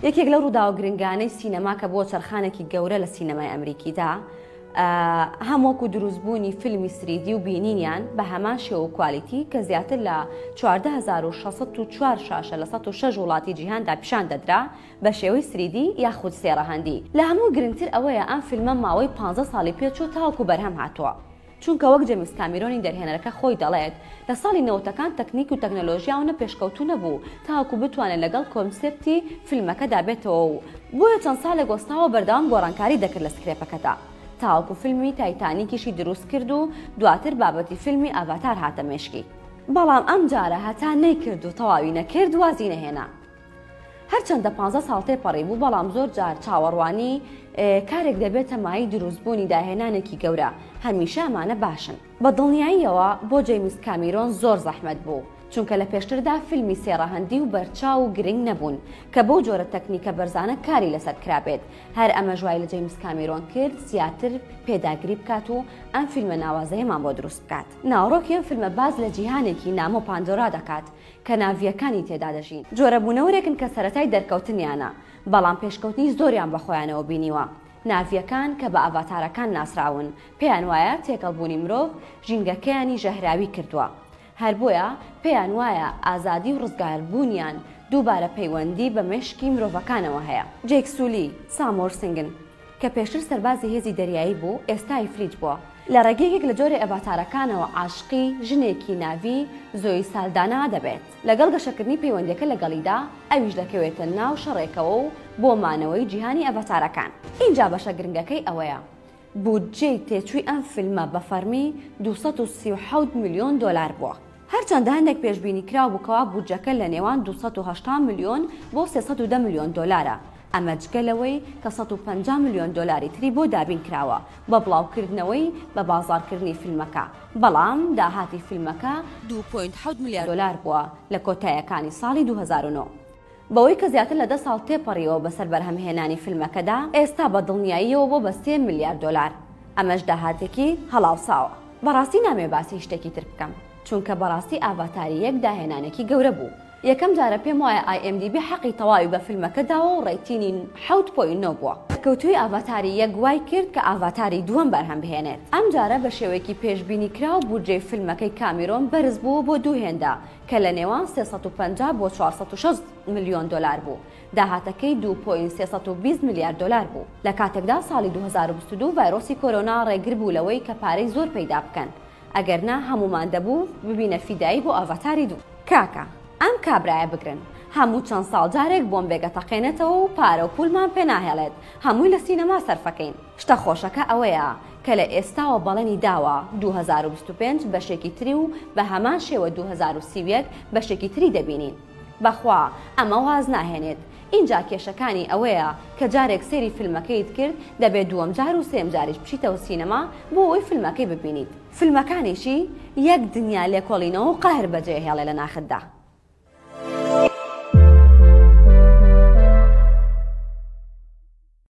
یەکێک لەو ڕووداوە گرنگانەی سینەما کە بۆ چرخانێکی گەورە لە سینەمای ئەمریکیدا هەم وەکو دروستبوونی فیلمی سریدی و بینینیان بە هەمان شێو و کوالیتی کە زیاتر لە 1964 شاشە لە 16 وڵاتی جیهاندا پیشان دەدرا بە شێوەی سریدی یاخود سێڕەهەندی لە هەموو گرنگتر ئەوەیە ئەم فیلمە ماوەی 15 ساڵی پێچوو تاوەکو بەرهەم هاتووە چونکە وەک جەمیس کامیرۆنی دەرهێنەرەکە خۆی دەڵێت، لە ساڵی نەوەتەکان تەکنیک و تەکنەلۆژیا ئەونە پێشکەوتوو نەبوو تاوەکو بتوانێت لەگەڵ کۆنسێپتی فیلمەکەدا بێتەوە و بۆیە چەند سالێک وەستاوە بەردەوام گۆڕانکاری دەکرد لە سکرێپەکەدا تاوەکو فیلمی تایتانیکیشی دروست کرد و دواتر بابەتی فیلمی ئاڤاتار هاتە مێشکی بەڵام ئەمجارە هەتا نەیکرد و تەواوی نەکرد وازی نەهێنا. هەرچەندە پانزە ساڵ تێپەڕی بوو، بەڵام زۆر جار چاوەڕوانی کارێک دەبێتە مایەی دروستبوونی داهێنانێکی گەورە، هەمیشە ئەمانە باشن. بە دڵنیاییەوە بۆ جەیمس کامیرۆن زۆر زەحمەت بوو، چونکە لە پێشتردا فیلمی سێ ڕەهەندی و بەرچاو و گرنگ نەبوون کە بەو جۆرە تەکنیکە بەرزانە کاری لەسەر کرابێت، هەر ئەمەش وای لە جەیمس کامیرۆن کرد زیاتر پێداگری بکات و ئەم فیلمە ناوازەیەمان بۆ دروست بکات. ناوەڕۆکی ئەم فیلمە باس لە جیهانێکی نامۆ پاندۆرا دەکات کەناڤییەکانی تێدا دەژین. جۆرە بوونەوەرێکن کە سەرەتای دەرکەوتنیانە، بەڵام پێشکەوتنی زۆریان بە خۆیانەوە بینیوە. ناڤییەکان کە بە ئاڤاتارەکان ناسراون، پێیان وایە تێکەڵبوونی مرۆڤ ژینگەکەیانی ژەهراوی کردووە. هەر بۆیە پێیان وایە ئازادی و ڕزگاربوونیان دووبارە پەیوەندی بە مێشکی مرۆڤەکانەوە هەیە. جەیک سولی، سامۆرسنگن. کە پێشتر سەربازی هێزی دەریایی بوو، ئێستا ئیفریت بووە. لە ڕێگەی یەکێک لە جۆرە ئەڤاتارەکانەوە عاشقی ژنێکی ناڤی، زۆی سالدانا، دەبێت. لەگەڵ گەشەکردنی پەیوەندییەکە لەگەڵیدا، ئەویش دەکەوێتە ناو شەڕێکەوە و بۆ مانەوەی جیهانی ئەڤاتارەکان. ئینجا بەشە گرنگەکەی ئەوەیە، بودجەی تێچووی ئەم فیلمە بە فەڕمی دوو سەد و سی و حەوت ملیۆن دۆلار بووە. هەرچەندە هەندێک پێشبینی کراو بوو کەوا بودجەکە لە نێوان دوو سەد و هەشتا ملیۆن بۆ سێ سەد و دە ملیۆن دۆلارە، ئەمە جگە لەوەی کە سەد و پەنجا ملیۆن دۆلاری تری بۆ دابین کراوە بە بڵاوکردنەوەی بە بازاڕکردنی فیلمەکە، بەڵام داهاتی فیلمەکە دوو پۆینت حەوت ملیار دۆلار بووە لە کۆتایەکانی ساڵی دوو هەزار و نۆ. بەوەی کە زیاتر لە دە ساڵ تێپەڕیوە بەسەر بەرهەمهێنانی فیلمەکەدا، ئێستا بە دڵنیاییەوە بۆ بە سێ ملیار دۆلار، ئەمەش داهاتێکی هەڵاوساوە. بەڕاستی نامەوێ باسی شتێکی تر بکەم، چونکە بەڕاستی ئاڤاتار یەک داهێنانێکی گەورە بوو. یەکەم جارە پێم وایە ئای ئێم دی بی حەقی تەواوی بە فیلمەکە داوە و ڕەیتینی حەوت پۆینت نۆ بووە. سەرکەوتوویی ئاڤاتاری یەک وای کرد کە ئاڤاتاری دووەم بەرهەم بهێنێت. ئەم جارە بە شێوەیەکی پێشبینی کراو بودجەی فیلمەکەی کامیرۆن بەرز بووە بۆ دوو هێندە، کە لە نێوان سێ سەد و پەنجا بۆ چوار سەد و شەست ملیۆن دۆلار بوو، داهاتەکەی دوو پۆینت سێ سەد و بیست ملیار دۆلار بوو، لە کاتێکدا ساڵی دوو هەزار و بیست و دوو ڤایرۆسی کۆرۆنا ڕێگر بوو لەوەی کە پارەی زۆر پەیدا بکەن، ئەگەر نا هەموومان دەبوو ببینە فیدایی بۆ ئاڤاتاری دوو. کاکە ئەم کابرایە بگرن هەموو چەند ساڵ جارێک بۆمبێک ئەتەقێنێتەوە و پارە و پوولمان پێ ناهێڵێت هەمووی لە سینەما سەرفەکەین. شتە خۆشەکە ئەوەیە کە لە ئێستاوە بەڵێنی داوە دوو هەزار و بیست و پێنج بەشێکی تری و بە هەمان شێوە دوو هەزار و سی و یەک بەشێکی تری دەبینین. بەخوا ئەمە واز ناهێنێت. ئینجا کێشەکانی ئەوەیە کە جارێک سەیری فیلمەکەیت کرد دەبێت دووەم جار و سێم جاریش بچیتەوە سینەما بۆ ئەوەی فیلمەکەی ببینیت. فیلمەکانیشی یەک دنیا لێکۆڵینەوە و قەهر بەجێهێڵێ لە ناختدا.